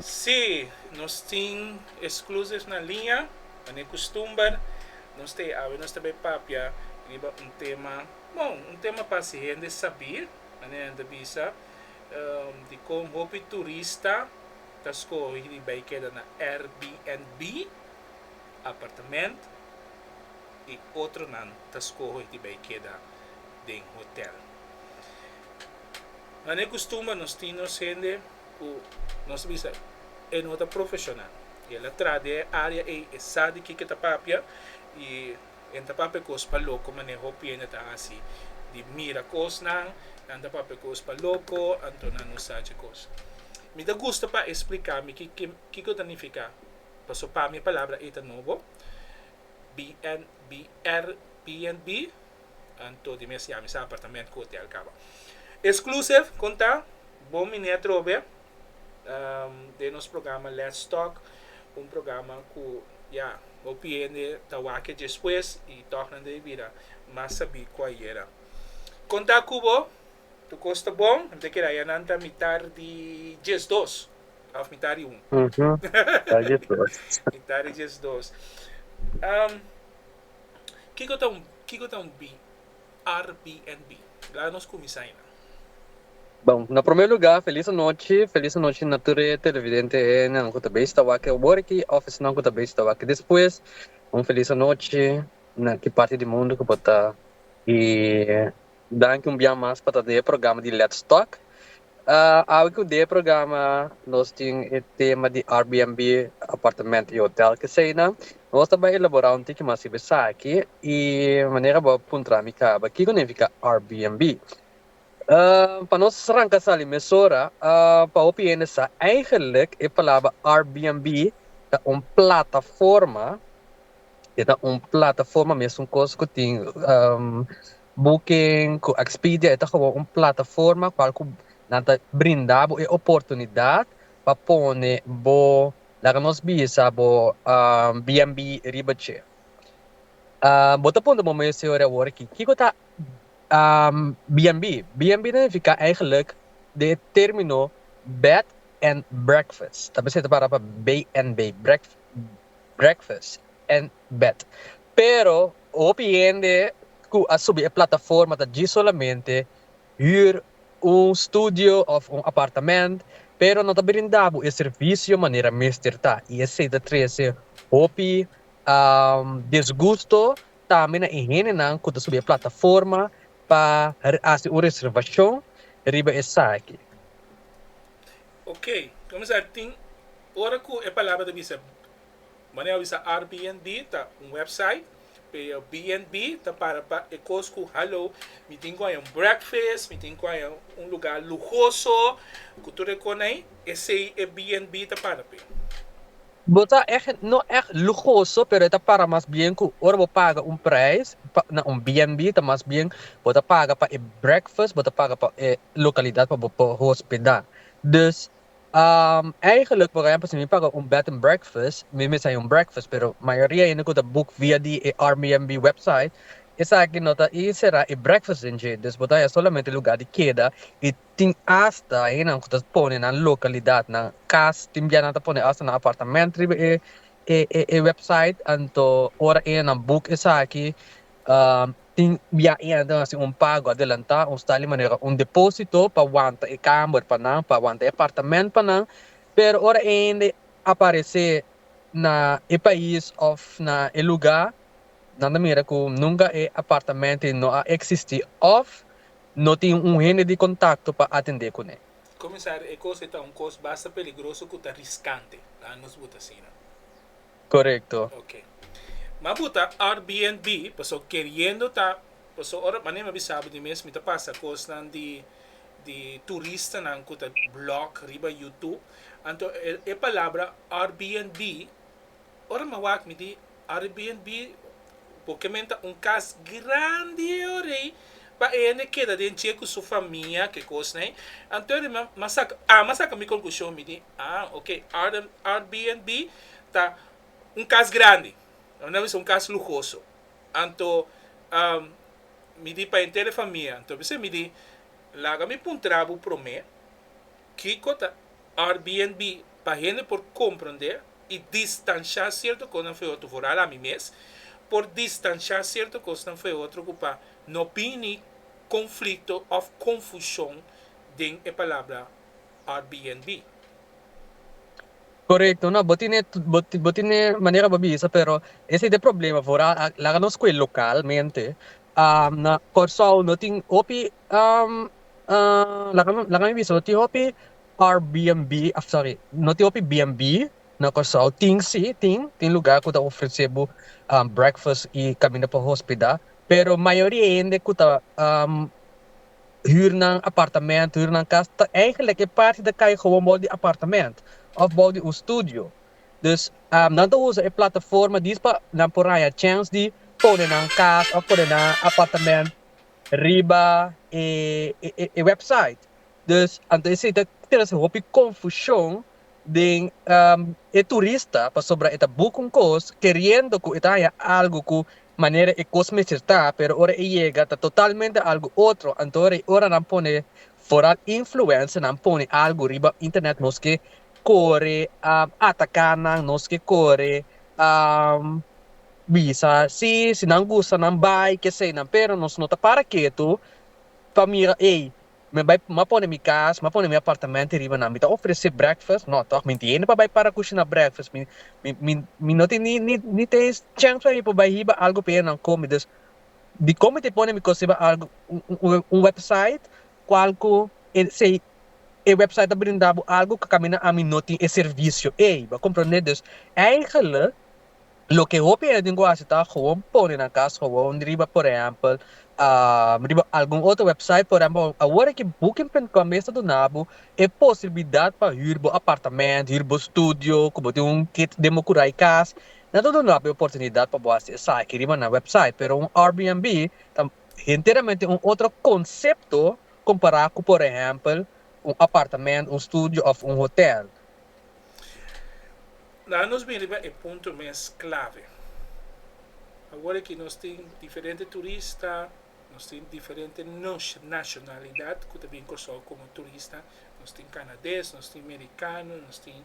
Si nos tin exclusive na liña, manera custumber, nos ta e awe, nos ta bay papia riba un tema, bon, un tema pa haci hende sabi, manera nan ta bisa, dicon hopi turista ta scogi di bay keda na RBNB, apartamento, y otronan ta scogi di bay keda. den hotel. Mane e kustumber nos tin nos hende ku nos ta bisa e no ta profeshonal. I el a traha den e área ei, e sa di kiko e ta papia i e no ta papia kos pa loko mane hopi hende ta hasi di mira kosnan, nan ta papia kos pa loko anto nan no sa dje kos. Mi ta gusta pa e spliká mi ki kiko ta nifiká paso pa mi e palabra ei ta nobo, BNBR, BNB. Anto di mes yami sa apartament ku hotel kaba. Exclusive konta, Bon mi ne atrobe den nos programa Let's Talk, un programa ku ya hopi hende ta wak despues i tòg nan debe bira mas sabí ku ayera. Konta ku bo, tur kos ta bon, mi ta kere aya nan ta mitar di diesdos òf mitar di un. Mitar di diesdos. Kiko ta un Kiko ta un bi Arbnb? Bla nos kuminsá i nan. Bon, na promé lugá, felis anochi, felis anochi na tur e televidente nan ku ta bes ta wak e oboriki òf esnan ku ta bes ta wak despues. Un felis anochi na ki parti di mundu ku bo ta. I danki un biaha mas pa ta den e programa di Let's Talk. Awe ku de programa nos tin e tema di Airbnb, apartamento y hotel kesey nan, nos ta bai elabora un tiki mas riba esaki y manera bo a puntra mi caba kiko nifica Airbnb. Pa nos ranca sali mesora, pa hopi hende sa eigenlik e palabra Airbnb ta un plataforma, e ta un plataforma mes un cos ku tin Booking ku Expedia e ta gewoon un plataforma kual ku nan ta brinda bo e oportunidat pa pone bo, laga nos bisa bo BNB riba dje. Bo ta puntra bo mes ora awor aki, kiko ta BNB? BNB ta nifiká eigenlik den e término Bed and Breakfast, ta basá ta pará pa BNB, breakfast and bed. Pero hopi hende cu a subi e plataforma ta djis solamente huur un studio of un apartament pero no ta brinda bo e servicio manera mester ta y esey ta trece hopi disgusto tambe na e hendenan cu ta subi e plataforma pa haci un reservacion riba esaki. Ok, comenzar tin ora cu e palabra ta bisa Mane a bisa Arbnb ta un website pero BNB ta para pa e kos ku halo mi tin ku haya un breakfast, mi tin ku haya un lugá luhoso ku tur e kon ei, esei e BNB ta para p'e. Bo ta ègt no ègt luhoso pero e ta para mas bien ku ora bo paga un preis pa na un BNB ta mas bien bo ta paga pa e breakfast, bo ta paga pa e lokalidat pa bo por hospedá. Dus. Eigenlik, por ehempel, si mi paga un bed and breakfast, mi mester hay un breakfast, pero mayoria hende cu ta boek via di e Airbnb website, esaki no ta y sera e breakfast den dje, dus bo ta hay solamente e lugar di keda y tin hasta hendenan cu ta pone nan localidadnan cas, tin bia nan ta pone hasta nan apartamento riba e website, anto ora hendenan boek esaki tin biaha e a duna sin un pago adelantá, un stal di manera un depósito pa wanta e kamber pa nan, pa wanta e apartamènt pa nan, pero ora e hende a paresé na e pais òf na e lugá, nan ta mira ku nunka e apartamentonan no a eksistí òf no tin un hende di kontakto pa atendé kuné. Komisario, e kos ei ta un kos basta peligroso ku ta riskante, laha nos buta asina. Korekto. Ok. Ma bu ta Airbnb, paso keriendo ta, paso ora manera mi a bisabu di mes, mi ta pasa kosnan di di turistanan ku ta blog riba YouTube. Anto e e palabra Airbnb, ora mi a wak mi di Airbnb Bo kementa un kas grandi o rei pa e hende keda den dje ku su famia ke kosnan. Anto e rei mi a saka a mi a saka mi konklushon mi di ah ok Airbnb ta un kas grandi mi na bisa un kas luhoso anto mi di pa henter e famia anto mi di laga mi puntra bo prome. Kiko ta Airbnb pa hende por komprondé i distanshá sierto kosnan for e otro? Foral ami mes por distanshá sierto kosnan for e otro ku pa no bini konflikto òf konfushon den e palabra Airbnb. Korekto, no, bo tine bo tine manera bo bisa, pero ese ta e problema, foral laga nos ku e lokalmente, na Kòrsou no tin hopi laga mi bisawo tin hopi Airbnb of sorry no tin hopi bnb na Kòrsou tin si tin tin lugar ku ta ofresé bo breakfast i kaminda pa hospeda pero mayoria di hende ku ta hür nan apartamento hür nan kas ta eigenlik e parti ta kai gowon bou di apartamento of bou di un studio dus nan ta usa e plataforma di pa nan por haña chèns di pone nan kas of pone nan apartamento riba e e website. Dus anto esei ta trese hopi konfushon den e turista pasobra e ta buka un kos keriendo ku e ta haña algu ku manera e kos mester ta pero ora e yega ta totalmente algu otro anto rei ora nan pone foral influencer nan pone algu riba internet nos ke kore ataka nan nos ke kore. Bisa si, si nan gusta nan bai kesey nan pero nos no ta para ketu pa mira ey mi a bai m'a pone mi kas m'a pone mi apartamento e riba nan mi ta ofrece breakfast no tog mi tiene pa bai para kushina breakfast mi mi mi no tin ni ni ni tin es chèns pa mi pa bai hiba algu pa enan kome dus dikon mi ta pone mi kos riba algu un un website kual ku esey e website ta brinda bo algu ku kaminda ami no tin e servicio ey bo a komprende dus eigele. Loke hopi hende ku hasi ta gewoon pone nan kas gewoon riba por ehèmpel riba algun otro wèpsait por ehèmpel awor aki Booking.com mes ta duna bo e posibilidad pa hür bo apartamènt hür bo studio ku bo tin un kit den bo kura i kas nan ta duna bo e oportunidad pa bo hasi esaki riba nan wèpsait pero un Airbnb ta enteramente un otro konsepto kompará ku por ehèmpel un apartamènt un studio òf un hotèl La nos bini pa e punto mes clave. Awor aki nos tin diferente turista, nos tin diferente nacionalidad cu ta bin Curaçao como turista. Nos tin Canades, nos tin Mericano, nos tin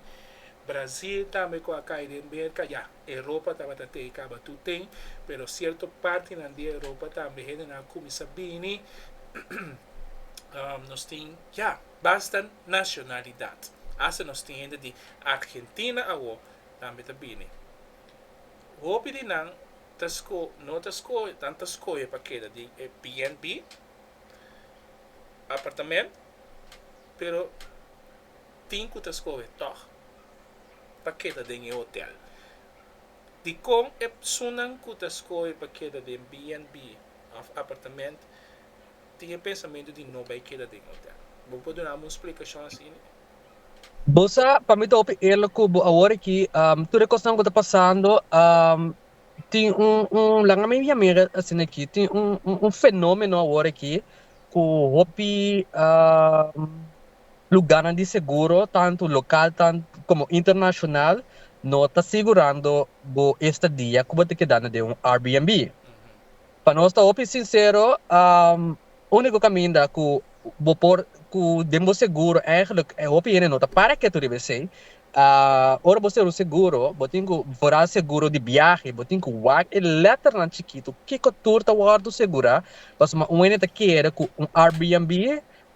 Brazil tambe cu a cay den merca. Ya, Europa tabata tey caba tur ten, pero cierto partinan di Europa tambe hendenan a cuminsa bini. Nos tin, ya. Basta nacionalidad. Hasta nos tin hende di Argentina awo tambe ta bini. Hopi di nan ta sco, no ta sco, nan ta scoge pa keda den e BNB, apartament, pero tin cu ta scoge tog pa keda den e hotel. Dicon e psunnan cu ta scoge pa keda den BNB of apartament. tin e pensamentu di no bai keda den hotel. Bo por dunami un splikashon asina? Bo sa, pa mi ta hopi eerlijk ku bo awor aki, tur e kosnan ku ta pasando, tin un, laga mi yam'e asina aki, tin un fenómeno awor aki ku hopi lugarnan di seguro, tantu lokal komo internashonal, no ta sigurando bo e stadia ku bo ta kedando den un Airbnb. Pa nos ta hopi sincero, unico caminda cu bo por, cu den bo seguro eigenlijk hopi hende no ta para ketu riba esey, ora bo ser un seguro, bo tin cu, vooral seguro di biahe, bo tin cu wak e letternan chikitu kico tur ta wordo segura, pasobra un hende ta kere cu un Airbnb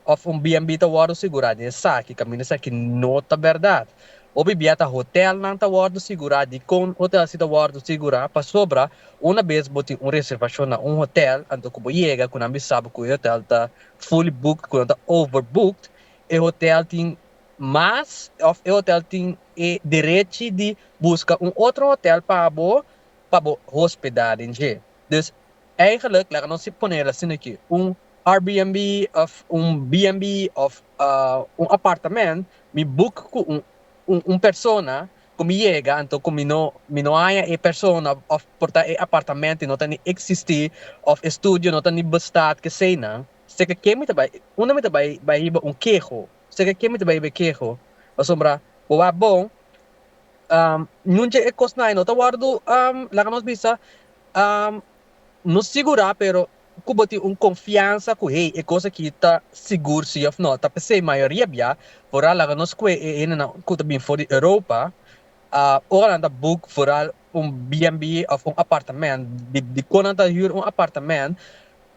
òf un BNB ta wòrdu sigurá di esaki kaminda esaki no ta bèrdat. Hopi bia ta hotèlnan ta wòrdu sigurá dikon hotèl si ta wòrdu sigurá, pasobra una bes bo tin un reservashon na un hotèl anto ku bo yega ku nan bin sabi ku e hotèl ta fully booked ku nan ta over booked, e hotèl tin mas òf e hotèl tin e derechi di buska un otro hotèl pa bo pa bo hospedá den dje. Dus, eigenlik laga nos si ponel asin'akí, un Airbnb of un BNB of un apartamento mi book cu un persona cu mi yega anto cu mi mi no haya e persona of por ta e apartamento y no ta ni existi of e studio no ta ni bestaan kesey nan seca ke mi ta bay unda mi ta bay bay hiba un keho seca ke mi ta bay hiba e keho pasobra bo bay bon nun dje e cosnan no ta wordo laga nos bisa no sigura pero. ku bo tin un konfiansa ku hei e kos aki ta sigur si òf no, ta p'esei mayoria bia vooral laga nos kue e hendenan ku ta bin for di Europa, ora nan ta boek vooral un BNB òf un apartamènt, di kon nan ta hür un apartamènt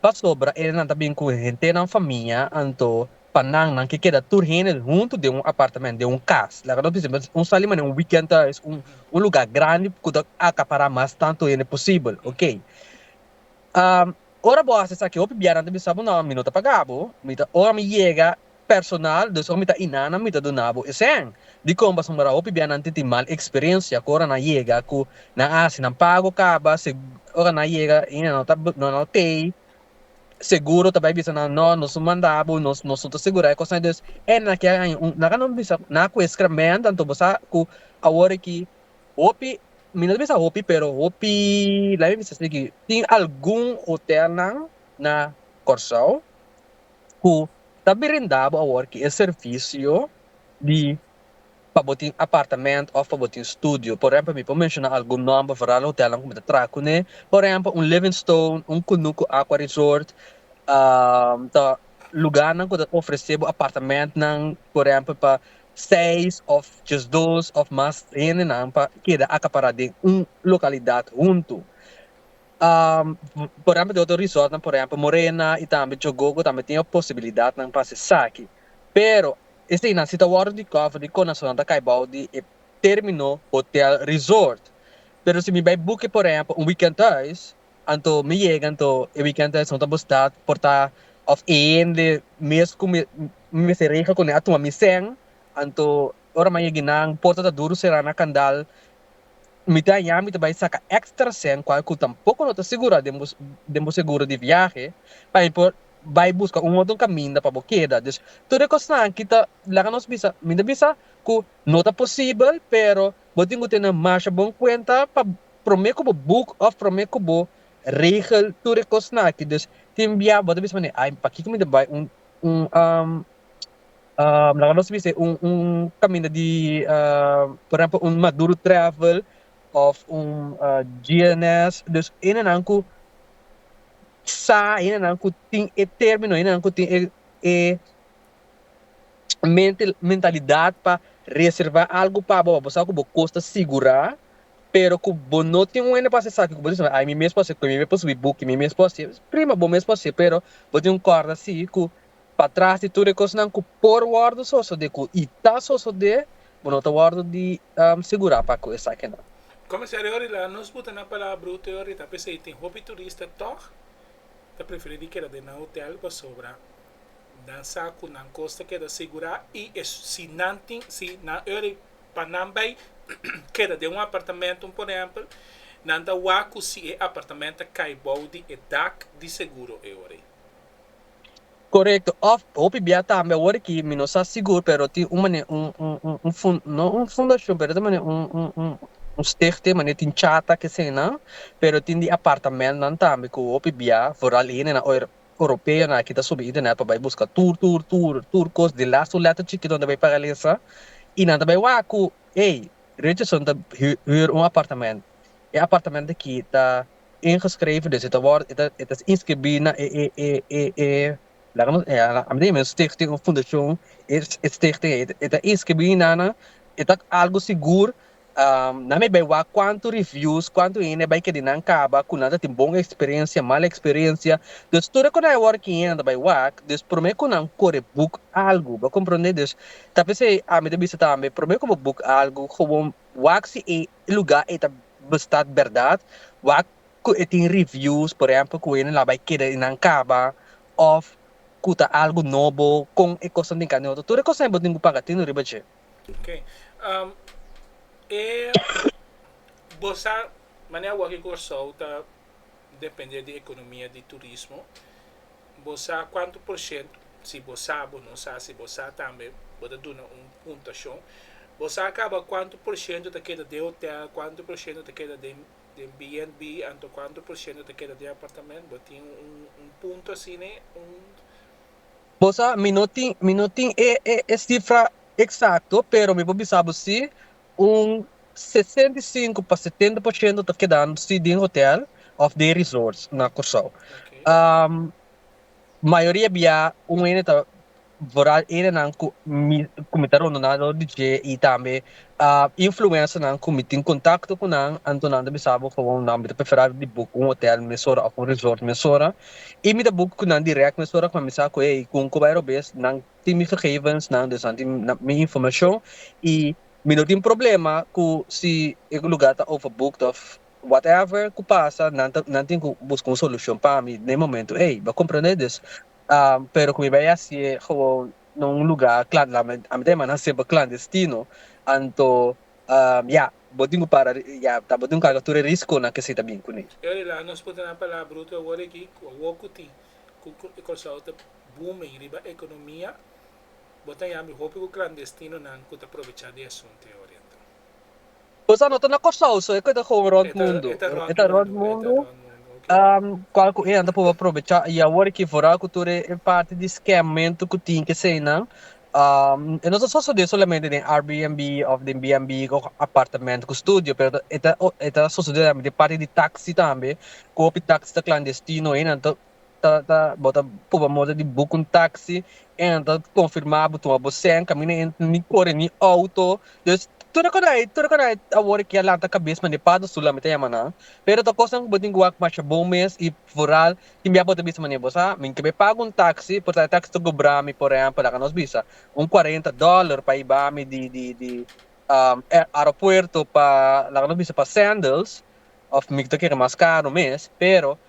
pasobra e hendenan ta bin ku hentenan famia, anto pa nan nan ke keda tur hende huntu den un apartamènt, den un kas. Laga nos bisa mes un sali manera un wikènt ta un luga grandi ku ta akapará mas tantu hende posibel, oke. Ora bo hasi esaki hopi bianan ta bisa bo no mi no ta paga bo, mi ta ora mi yega personal dus ora mi ta inana mi ta duna bo esen. Dikon pasobra hopi bianan tin tin mal experiencia cu ora nan yega cu nan hasi nan pago caba se ora nan yega y nan no ta nan no tey seguro ta bay bisa nan no nos no manda bo nos nos no ta segura e cos ayi. Dus e nan a kere aña un nan a bisa nan a cu e scremento anto bo sa cu awor aki Hopi, mi no ta bisa hopi pero hopi laga mi bisa sigi, tin algun hotelnan na Kòrsou ku ta brinda bo awor ki e servisio di pa bo tin apartamento òf pa bo tin studio. Por ehempel mi por menshona algun nòmber foral di hotelnan ku mi ta traha kuné, por ehempel un Livingstone, un Kunuku Aqua Resort, ta lugarnan ku ta ofresé bo apartamentnan por ehempel pa seis òf djes dos òf mas hendenan pa keda akapará den un lokalidat huntu. Por èhèmpel di otro resòrtnan, por èhèmpel Morena i tambe Jogogo tambe tin e posibilidatnan pa hasi esaki. Pero eseinan si ta wòrdu di kòfer di Conasolnan ta kai bou di e término hotèl resòrt. Pero si mi bai buke por èhèmpel un wikènt hùis, Anto mi yega anto e weekend esnan ta bo stad por ta of e hende mes ku mi mester regla kuné a tuma mi sèn anto ora mi a yegi nan porta ta duru será na kandal mi ta haña mi ta bai saka èkstra sèn kual ku tampoko no ta sigurá den bo den bo seguro di viahe pa mi por bai buska un otro kaminda pa bo keda dus tur e kosnan aki ta laga nos bisa mi ta bisa ku no ta posibel pero. Bo tin ku tene masha bon kuenta pa promé ku bo buk òf promé ku bo regel tur e kosnan aki. Dus tin bia bo ta bisa manera ai pakiko mi ta bai un un laga nos bis'e un un kaminda di por ehèmpel un Maduro Travel òf un GNS. Dus hendenan ku sa, hendenan ku tin e término, hendenan ku tin e e. mente mentalidad pa reserva algo pa bo, pa bo sa cu bo cos ta sigura, pero cu bo no tin un hende pa haci esaki cu bo dice, ay mi mes por haci, mi mes por subi buki, mi mes por haci, prima bo mes por haci pero bo tin un corda si cu patras di tur e cosnan cu por wordo sosode cu y ta sosode bo no ta wordo di sigura pa cu esakinan. Comisario Ory laga nos buta na palabru teo Rita p'esey tin hopi turista tog ta preferi di keda den nan hotel pasobra Nan sa cu nan cos ta keda segura y e si nan tin, si nan ora pa nan bay keda den un apartamentum por ehempel, nan ta wak cu si e apartament ta cay bao di e dak di seguro e ora. Corecto, of hopi bia tambe awor ki mi no sa sigur pero tin un mane un fun no un fundacion pero ta mane un un stichting mane tin chata kesenan pero tin di apartamentnan tambe cu hopi bia vooral hende na oir Europeonan aki ta subi internet pa bai buska tur tur tur tur kos di last to letter chikito nan ta bai paga lesa i nan ta bai wak ku ey Richardson ta hür un apartament e apartament aki ta ingeschreven dus e ta wòrdu e ta inskribí na e e e e e laga nos a mi ta yama un stichting un fundashon e e stichting e ta inskribí nan e ta algu sigur Nan a bai wak kuantu reviews, kuantu hende a bai keda nan kaba ku nan ta tin bon eksperensia, mal eksperensia. Dus tur e ku nan a wòrdu kin hende bai wak, dus promé ku nan kore buk algu. Bo komprondé? Dus ta p'esei ami ta bisa tambe, promé ku bo buk algu, gewoon wak si e lugá ei ta bistá bèrdat, wak ku e tin reviews, por ehèmpel ku hende nan a bai keda i nan kaba òf ku ta algu nobo, kon e kosnan tin k'e neutro. Tur e kosnan ei bo tin ku paga tino riba dje. Ok. Um, e bosa manera wak e Kòrsou ta depende di ekonomia di turismo. Bo sa kuantu por shent, si bo sa, bo no sa, si bo sa tambe bo ta duna un puntashon. Bo sa kaba kuantu por shento ta keda den hotel, kuantu por shento ta keda den den BNB anto kuantu por shento ta keda den apartamento? Bo tin un un punto asina, un Bo sa mi no tin mi no tin e e e sifra eksakto pero mi por bisa bo si un sesenta i sinku pa setenta por shento ta kedando si den hotèl òf den resorts na Kòrsou. Mayoria bia un hende ta vooral hendenan ku mi ku mi ta rondona alor di dje i tambe influencernan cu mi tin contacto cu nan, anto nan ta bisa bo favor nan, mi ta prefera di book un hotel mesora of un resort mesora y mi ta book cu nan direct mesora cu nan bisa cu hey cu cu bay rob es nan tin mi gegevens nan dus nan tin mi informacion y mi no tin problema cu si e lugar ta over booked of whatever cu pasa nan ta nan tin cu busca un solucion pa mi den momento ey bo a comprende? Dus pero cu mi bay haci'e gewoon na un luga klan la mi ta demanda nan semper klandestino anto ya bo tin ku para ya ta bo tin ku karga tur e riskonan ke esei ta bin kuné. Djari la nos puntra nan palabra bruto awor aki ku awor ku tin ku Kòrsou ta booming riba ekonomia bo ta yami hopi ku klandestinonan ku ta provecha di e asuntu e oriental. Boso a nota na Kòrsou so e ku e ta hon rònt mundu. E ta rònt mundu kual ku e nan ta por aprobechá. I awor aki forá ku tur e parti di skemamentu ku tin ku esei nan e no ta sosodé solamente den Airbnb òf den BNB òf apartamento ku studio pero e ta sosodé tambe den parti di taksi tambe ku hopi taksi ta klandestino i nan ta ta ta bo ta por mor di boek un taxi en ta confirma bo tuma bo send camina en ni core ni auto dus tur acordae tur acordae awor kia lanta cabes mane pato su lami ta yama nan pero ta cos nan bo tin guak masha bon mes y foral kimbia bo ta bisa mane bo sa mi kibe paga un taxi por ta e taxi ta cobrami por ehempel laga nos bisa un cuarenta dollar pa iba mi di di di aeropuerto pa laga nos bisa pa sandals of mi ta kere mas caro mes pero.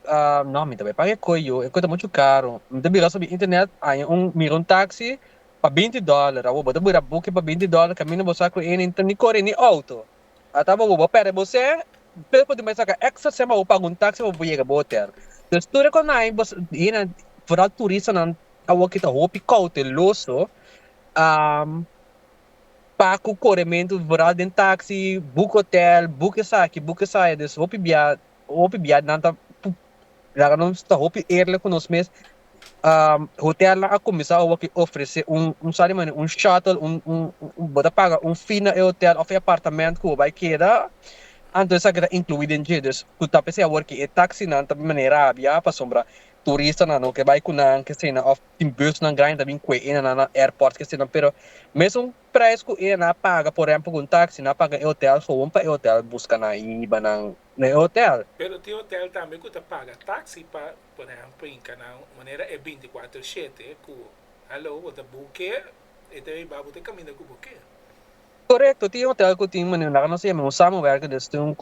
Ah, no, mi ta bai paga e koyo, e koyo ta mucho caro. Mi ta bira sobre internet, aña un, mira un taxi pa 20 dólar. Awo bo ta bira buki pa 20 dólar, camina bo sa cu e nin ta ni core ni auto. Ata awo bo perde bo sen, pero por tin bai saca extra sen pa bo paga un taxi pa bo yega bo hotel. Entonces, tur e conai, bo sa, e nan, vooral turistanan awoki ta hopi cauteloso, am, pa cu corementu, vooral den taxi, boek hotel, boek esaki, boek esaya. Dus hopi bia Hopi bia nan ta laga nos ta hopi eerlijk ku nos mes. Hotelnan a kuminsá awaki ofresé un un sa di manera un shuttle un un bo ta paga un fee na e hotel òf e apartamènt ku bo bai keda, anto esaki ta inkluí den dje. Dus ku ta p'esei awor ku e taksinan ta bin manera abia pasobra turistanan lo ke bai ku nan, kesenan òf tin busnan grandi ta bin kue'e nan na airport kesenan pero mesun Prijs ku e na paga por rempo ku un taksi na paga e hotel gewoon pa e hotel buska nan i hiba nan na e hotel. Pero tin hotel tambe ku ta paga taksi pa por ehempel hinka nan un manera e beinticuatro shete ku hallo bo ta buke e ta hiba bo ta kaminda ku buke. Korekto, tin hotel ku tin manera laga nos ta yama un samenwerker des tin un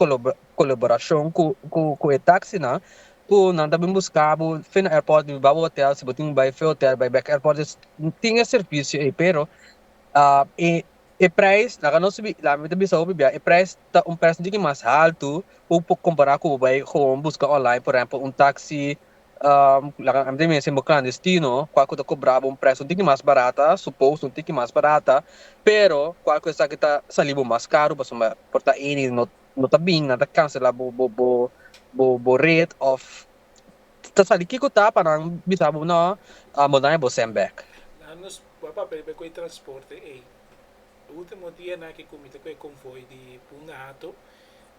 colaboracion cu cu e taxi nan cu nan ta bin busca bo fen na airport di baba hotel si bo tin bai fe hotel bai bek airport dus tin e servicio ey pero e e prijs laga nos subi laga mi ta bisa hopi bia e prijs ta un percentage mas halto cu cu compara cu bo bai gewoon busca online por ejemplo un taxi laga ami ta bisa sin bo clandestino cual cu ta cobra bo un prijs un tiki mas barata suppose un tiki mas barata pero cual cu esaki ta sali bo mas caro pasobra por ta eni no No ta bin, nan ta cancela bo bo bo bo bo red of ta sali kico ta pa nan bisa bo no bo daña bo send back. Nan nos wak papel pa e cu e transporte ey. E ultimo dia nan aki comite cu e convoy di Punta Hato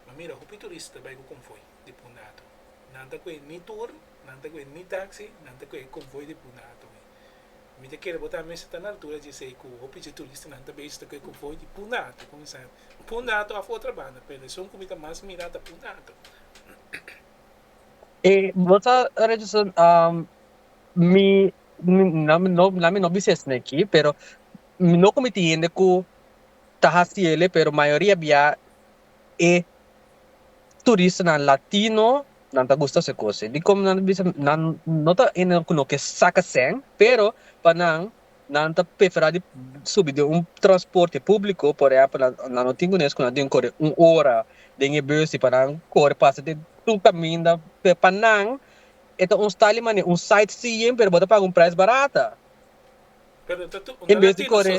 ma mira hopi turista bay cu convoy di Punta Hato. Nan ta coe ni tour, nan ta coe ni taxi, nan ta coe e convoy di Punta Hato mi. Mi ta kere bo ta mester ta na altura dje ey cu hopi dje turistanan ta bay esto cu e convoy di Punta Hato comenzar. Pundato of otro banda pero esun cu mi ta mas mira ta Pundato. E bo ta reduce mi na mi no bises na aki pero mi no cu mi tin hende cu ta haci ele pero mayoria bia e turistanan latino nan ta gusta su e cosnan dicom nan bisa nan no ta hende cu no ke saca seng pero pa nan Nan ta preferá di subi den un transporte públiko, por ehèmpel, nan, nan lo tin ku nesku nan tin ku kore un ora den e bus, i pa nan kore pasa den tur kaminda, p'e pa nan e ta un style manera un site seeing pero bo ta paga un prijs barata, en bes di kore.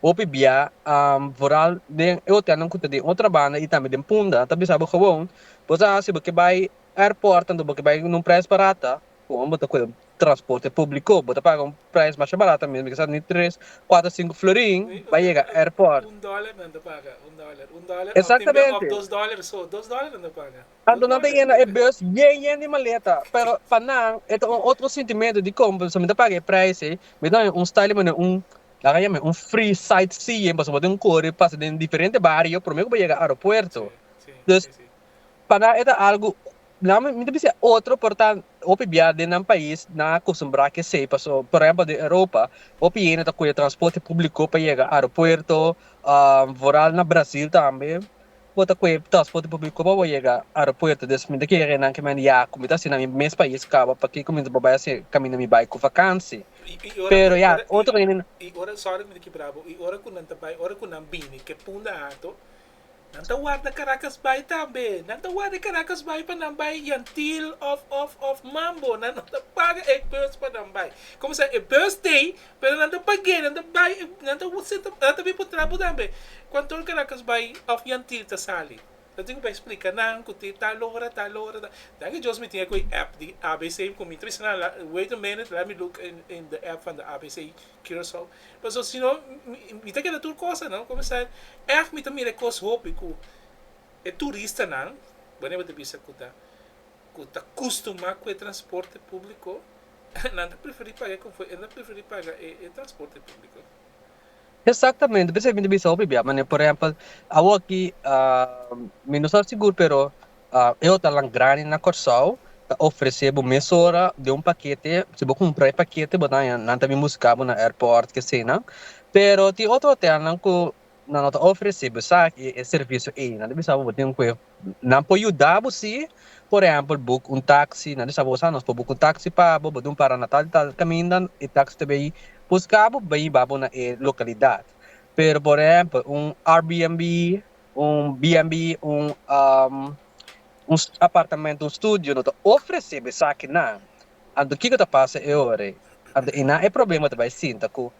Hopi bia vooral den e hotelnan ku ta den otro banda i tambe den punta ta bisa bo gewoon bo sa si bo ke bai airport anto bo ke bai na un prijs barata gewoon bo ta kohe transporte publico bo ta paga un prijs masha barata mes ke sa ni tres cuatro cinco florin bai yega airport. Exactamente anto nan ta yena e bus bien yen di maleta pero pa nan e ta un otro sentimento di como pasobra mi ta paga e prijs ei mi ta un style manera un Laga yame un free site seeing pasobra bo tin kore pasa den diferente bario prome ku bo yega aeropuerto. Dus pa nan e ta algu nan mi ta bisa otro por ta hopi bia den nan pais nan a kostumbrá ke esei paso por ehempel den Europa hopi hende ta kuye transporte públiko pa yega aeropuerto vooral na Brazil tambe. Bo ta koe tòs foto bo bico pa bo yega aeropuerto des mi ta kere renan ke mi a dia ku mi ta hasi na mi mes pais caba pa ke ku mi ta por bai hasi caminda mi bai ku vakansi pero ya otro hende no. I ora sorry mi ta kibra bo i ora ku nan ta bai ora ku nan bini ke punda ato nan ta warda Caracas bai tambe nan ta warda Caracas bai pa nan bai yantil of of of mambo nan no ta paga e bus pa nan bai komo sa e bus tei Pero nan ta pag'é, nan ta bai, nan ta seta, nan ta bin por trabo tambe. Cuan tur Caracas bai of Yantiel ta sali, nan tin cu bai splica nan cu te tal ora, tal ora, tal. Danki Dios mi tin aquei app di ABC cu mi trece nan la, wait a minute, let me look in, in the app van de ABC Curaçao. Pasobra si no, mi, mi ta keda tur cosa, no? Comenzar, èf mi ta mira e cos hopi cu e turistanan, bo nebe ta bisa cu ta. ku ta kustumá ku e transporte públiko, nan ta preferí paga e konfo, e ta preferí paga e transporte públiko. Eksaktamente, p'esei mi ta bisa hopi bia manera. Por ehèmpel, awor aki mi no sa sigur pero e hotalnan grandi na Kòrsou ta ofresé bo mesora den un pakete, si bo kumpra e pakete bo ta haña nan ta bin buska bo na èrpòrt, ke eseinan. Pero tin otro hotelnan ku Nan lo ta ofresé bo esaki, e servisio ei. Nan ta bisa bo bo tin kue nan por yuda bo sí. Por ehèmpel, buk un taksi. Nan ta bisa bo bo sa nos por buka un taksi pa bo. Bo dun para na tal di tal kaminda. E taksi ta bai buska bo, bai iba bo na e lokalidat. Pero por ehèmpel, un RBNB, un BNB, un un apartamentu, un studio no ta ofresé bo esaki nan. Anto kiko ta pasa e ora ei? Anto einan e problema ta bai sinta ku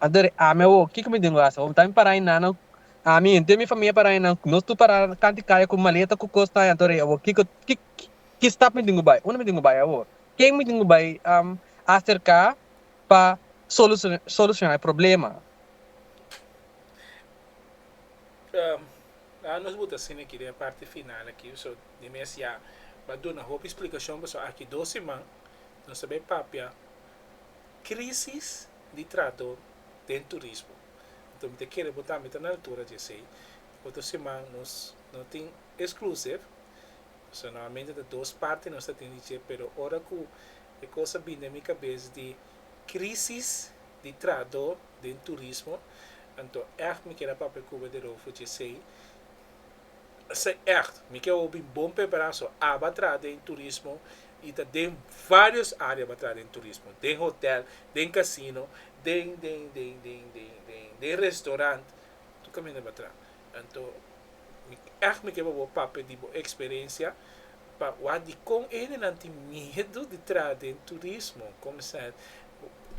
Anter ami a wou, kiko mi tin ku hasi? Bo ta mi pará innan no? Ami, henter mi famia pará innan, nos tur pará kanti kaya ku maleta ku kos ta. Anter a wou, kiko ki stap mi tin ku bai? Unda mi tin ku bai a wou? Ken mi tin ku bai aserká pa solusioná e problema? Ahora nos buta asina aki den e parti final aki, so mi mes ya a duna hopi splikashon pasobra aki dos siman nos ta bai papia krísis. di trato den turismo. Anto mi ta kere bo tambe ta na altura di esei. Otro siman nos no tin exclusive, so normalmente ta dos parti nos ta tin di dje, pero ora cu e cos a bini den mi cabes di crisis di trato den turismo, anto echt mi kier a papia cu bo e di Roofo di esei. Esei echt, mi ke hopi bon pepera so aba traha den turismo y ta den varios area aba traha den turismo, den hotel, den casino, den den den den den den den restaurant, tur caminda aba traha. Anto mi echt mi ke bo bo papia di bo experiencia pa wak dicon e hendenan tin miedo di traha den turismo, con mester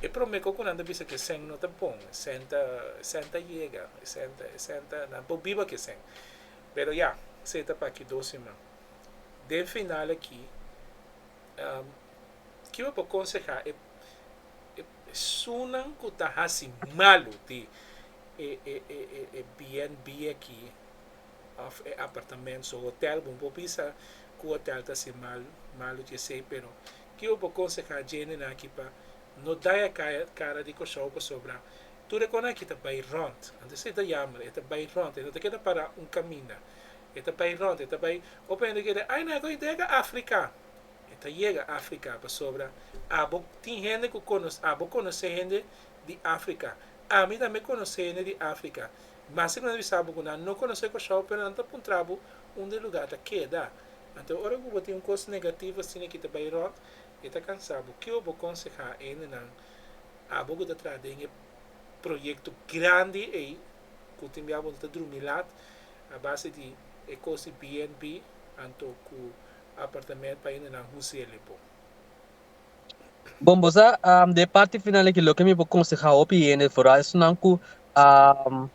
E prome cosa cu nan ta bisa cu e sèn no ta bon, e sèn ta, e sèn ta yega, e sèn ta, e sèn ta, nan por biba cu e sèn. Pero ya, sey ta pa aki dos siman. Den final aki, kico bo por conseha e, e pesonan cu ta haci malo di e, e, e, e, e BNB aki, of e apartamentonan, hotel, bo no por bisa cu hotel ta haci mal, malo di esey, pero Tio bo konsehá djende nan aki pa no daya kara di koshou pasobra tur e konan aki ta bai rònt. Anto esei ta yamber, e ta bai rònt, e no ta keda pará un kaminda. E ta bai rònt, e ta bai. Hopi hende ta keda, Ai, nan e go'i dega Afrika. E ta yega Afrika pasobra abo tin hende ku konosé, abo konosé hende di Afrika. Ami tambe konosé hende di Afrika. Mas e ku nan ta bisa bo ku nan no konosé koshou pero nan ta puntra bo unda e lugá ta keda. Anto ora ku bo tin un kos negativo asina ki ta bai rònt, e ta kansa bo. Kiko bo konsehá hendenan, abo ku ta traha den e proyekto grandi ei, ku tin bia bo no ta drumi lat a base di e kos di BNB anto ku apartamènt pa hendenan huselia bo? Bon bo sa um, de parti final aquí lo que mi por consejar hopi hende vooral esnan cu um,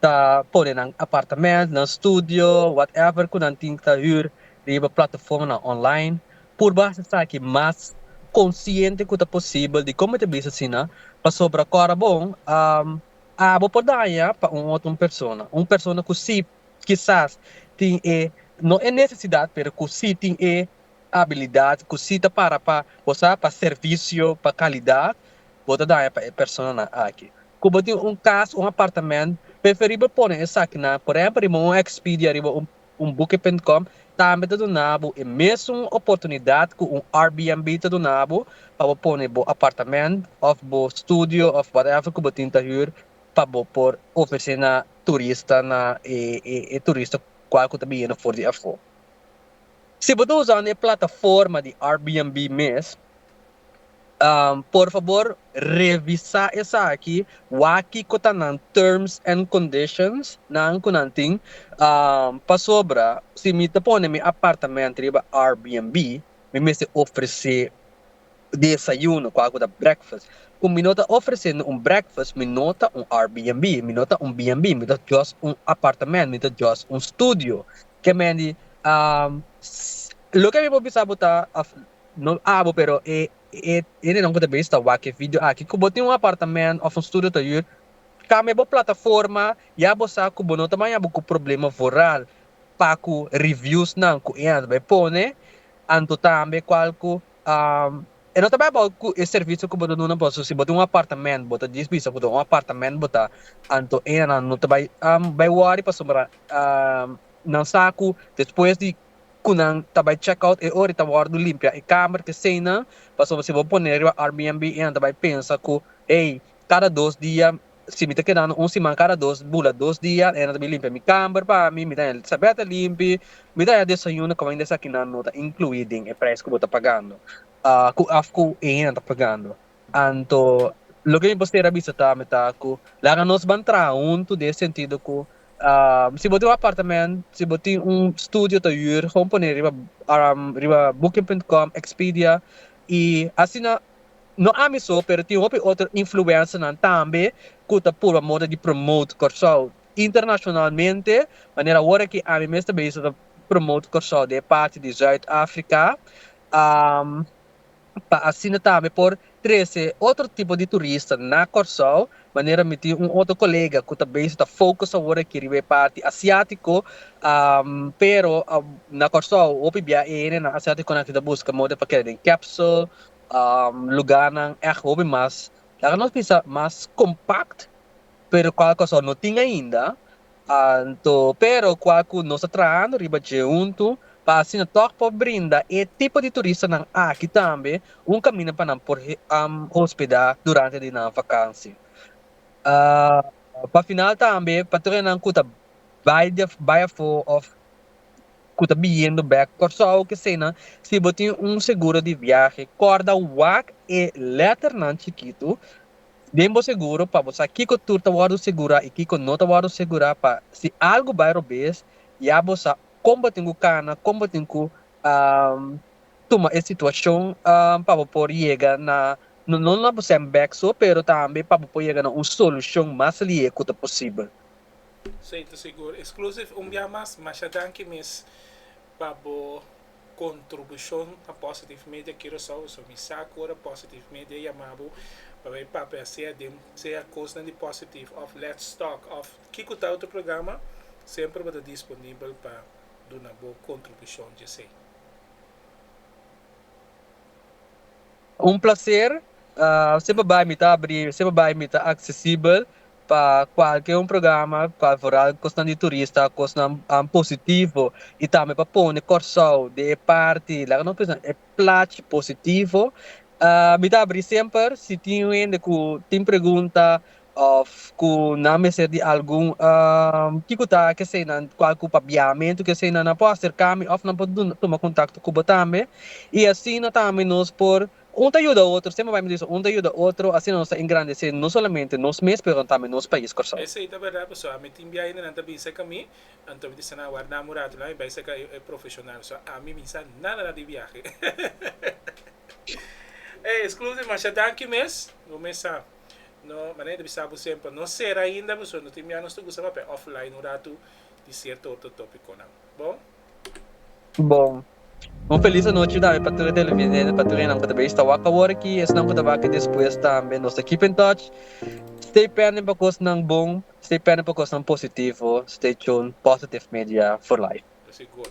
ta pone nan apartamento, nan studio, whatever cu nan tin ta huur riba plataformanan online purba haci esaki mas consciente cu ta posibel di como ta bisa asina pasobra cora bon um, abo por daña pa un otro un persona, un persona cu si kisas tin e no e necesidad pero cu si tin e abilidat ku si ta para pa bo sa pa servisio pa kalidat bo ta daña pa e personanan aki. Ku bo tin un kas un apartamènt preferibel pone esakinan por ehèmpel riba un Expedia riba un Booking.com tambe ta duna bo e mesun oportunidat ku un Airbnb ta duna bo pa bo pone bo apartamènt òf bo studio òf whatever ku bo tin ta hür pa bo por ofresé na turista na e turista kual ku ta biniendo for di afó. Si bo ta usando e plataforma di Airbnb mes, por fabor revisa esaki, wak kiko ta nan terms and conditions nan ku nan tin, pasobra si mi ta pone mi apartamento riba Airbnb mi mester ofrese Desayuno, kua ku ta breakfast. Ku mi no ta ofresé no un breakfast, mi no ta un Airbnb, mi no ta un BNB, mi ta just un apartamènt, mi ta just un studio. Ke men di, Loke mi por bisa bo ta, òf no abo pero e e hendenan ku ta bini sta wak e video aki, ku bo tin un apartamènt òf un studio ta hür, kambia bo plataforma, ya bo sa ku bo no ta baña bo ku problema voral pa ku reviews nan ku e a ta bai pone anto tambe cual cu e no ta bay abao cu e servicio cu bo ta duna boso si bo tin un apartamento bo ta dies bisa cu ta un apartamento bo ta anto enan no ta bay bay worry pasobra nan sa cu despues di cu nan ta bay check out e ora e ta wordo limpia e kamer kesey nan pasobra si bo pone riba RBNB enan ta bay pensa cu hey cada dos dia si mi ta kedando un siman kada dos bula dos dia hende ta bin limpia mi kamber pa mi mi ta haña sabèt a limpi mi ta haña desayuno kòmen di esakinan no ta inkluí den e prijs ku bo ta pagando ku òf ku e hende ta pagando anto loke mi por ser a bisa ta mi ta ku laga nos ban traha huntu den e sentido ku si bo tin un apartamènt si bo tin un studio ta hür pone riba booking punt com expedia i asina No ami so pero tin hopi otro influencernan tambe cu ta purba moda di promote Corsou internacionalmente manera awor aki ami mes ta bay so ta promote Corsou den e parti di Zuid Africa pa asina tambe por trece otro tipo di turista na Corsou Manera mi tin un otro colega cu ta bezig ta focus awor aki riba e parti asiatico, pero na Corsou hopi bia e hendenan asiaticonan aki ta busca moda pa keda den capsule, lugarnan echt hopi mas, laga nos bisa mas compact, pero cual Corsou no tin ainda, Anto, pero kua ku nos ta trahando riba dje huntu pa asina tòg por brinda e tipo di turistanan aki tambe un kaminda pa nan por hospedá durante di nan vakansi. Pa final tambe pa tur esnan ku ta bai di bai afó òf ku ta biyendo bèk Kòrsou o kesenan, si bo tin un seguro di viahe kòrda wak e lèternan chikitu Den bo seguro pa bo sa kiko tur ta wòrdu segurá i kiko no ta wòrdu segurá pa si algu bai robes ya bo sa kon bo tin ku kana, kon bo tin ku tuma e situashon pa bo por yega na no no na bo sèn bèk so pero tambe pa bo por yega na un solushon mas lihe ku ta posibel. Sey ta sigur. Exclusive un bia mas, masha danki mes. Pa bo kontribushon na Positive Media Curaçao, so mi sa ku ora Positive Media yama bo pa bai papia sea den sea kosnan di Positive òf Let's Talk òf kiko ta otro programa, semper bo ta disponibel pa duna bo kontribushon dje esei. Un plaser, semper bai mi ta abri, semper bai mi ta aksesibel. pa cualke un programa cual vooral cosnan di turista cosnan an positivo y tambe pa pone Kòrsou den e parti laga nos bisa e plach positivo mi ta abri semper si tin un hende cu tin pregunta of cu nan mester di algun kico ta kesey nan cual cu pa biamentu kesey nan nan por acercami of nan por tuma contacto cubo tambe y asina tambe nos por Un ta yuda otro, siempre bai mi dice un ta yuda otro, asina nos ta engrandece no solamente nos mes pero tambe nos pais Corsou. Esey ta berdad paso ami tin biaha yende nan ta bin seca mi anto mi ta dice nan warda amu rato la mi bai seca e profesional so ami mi sa nada nada di biahe ey exclusive masha danki mes bo mes sa no manera ta bisa bo semper no cera ainda paso no tin biaha nos ta gusta papia offline un rato di cierto otro topiconan bon. Bon. Un felis anochi tambe pa tur e televidente, pa tur esnan ku ta bista wak awor aki, esnan ku ta wak despues tambe. Nos ta keep in touch. Stay pending pa kosnan bon, stay pending pa kosnan positivo, stay tune Positive Media for Life. Así gor.